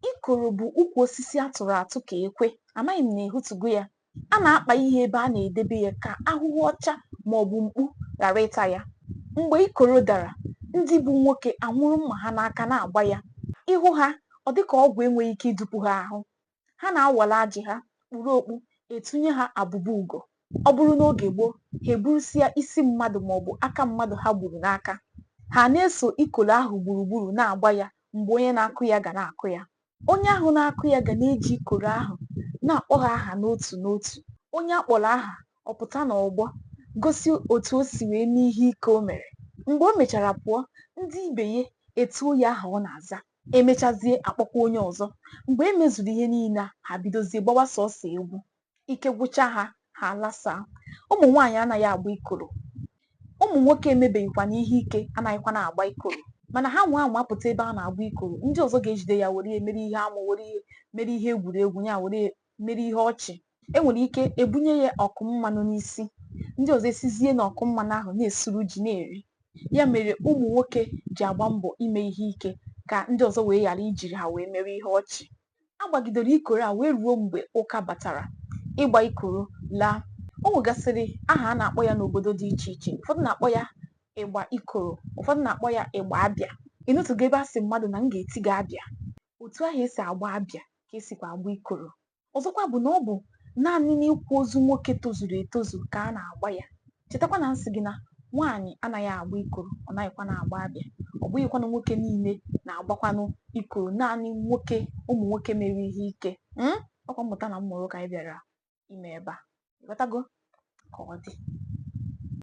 Ikoro bụ ukwu osisi a tụrụ atụ ka ekwe. Amaghị m na ị hụtụgo ya. A na-akpa ihe ebe a na-edebe ya ka ahụhụ ọcha ma ọ bụ mkpu ghara ịta ya. Mgbe ikoro dara, ndị bụ nwoke anwụrụ mma ha n'aka na-agba ya. Ị hụ ha, ọ dị ka ogwu enweghị ike idupu ha ahụ. Ha na-awara ajị ha, kpuru okpu, etunye ha abụba ugo. ọ bụrụ n'oge gboo ha eburusịa isi mmadụ ma ọ bụ aka mmadụ ha gburu n'aka ha na-eso ikolo ahụ gburugburu na-agba ya mgbe onye na-akụ ya ga na-akụ ya onye ahụ na-akụ ya ga na-eji ikoro ahụ na-akpọ ha aha n'otu n'otu onye a kpọrọ aha ọ pụta n'ọgbọ gosi otu o si wee mee ihe ike o mere mgbe o mechara pụọ ndị ibe ya etuo ya aha ọ na-aza e mechazie a kpọkwa onye ọzọ mgbe e mezuru ihe niile a ha bidozie gbawa sọsọ egwu ike gwụcha ha ha alasaa ụmụ nwaanyị anaghị agba ikoro ụmụ nwoke emebeghịkwanụ ihe ike anaghịkwanụ agba ikoro mana ha nwaa anwa pụta ebe a na-agba ikoro ndị ọzọ ga-ejide ya were ya mere ihe amụ were ya mere ihe egwuregwu ya were ya mere ihe ọchị e nwere ike ebunye ya ọkụ mmanụ n'isi ndị ọzọ esizie na ọkụ mmanụ ahụ na-esuru ji na-eri ya mere ụmụ nwoke ji agba mbọ ime ihe ike ka ndị ọzọ wee ghara ijiri ha wee mere ihe ọchị a gbagidere ikoro a wee ruo mgbe ụka batara ịgba ikoro laa o nwegasịrị aha a na-akpọ ya n'obodo dị iche iche ụfọdụ na-akpọ ya ịgba ikoro ụfọdụ na-akpọ ya ịgba abịa ị nụtụgo ebe a sị mmadụ na m ga-eti gị abịa otu ahụ e si agba abịa ka e sikwa agba ikoro ọzọkwa bụ na ọ bụ naanị n'ịkwa ozu nwoke tozuru etozu ka a na-agba ya chetakwa na m sị gị na nwaanyị anaghị agba ikoro ọ naghịkwanụ agba abịa ọ bụghịkwanụ nwoke niile na-agbakwanụ ikoro naanị nwoke ụmụ nwoke mere ihe ike hmm? ọkwa mmụta na mmụrụ ka anyị bịara ime ebe a ị ghọtago ka ọ dị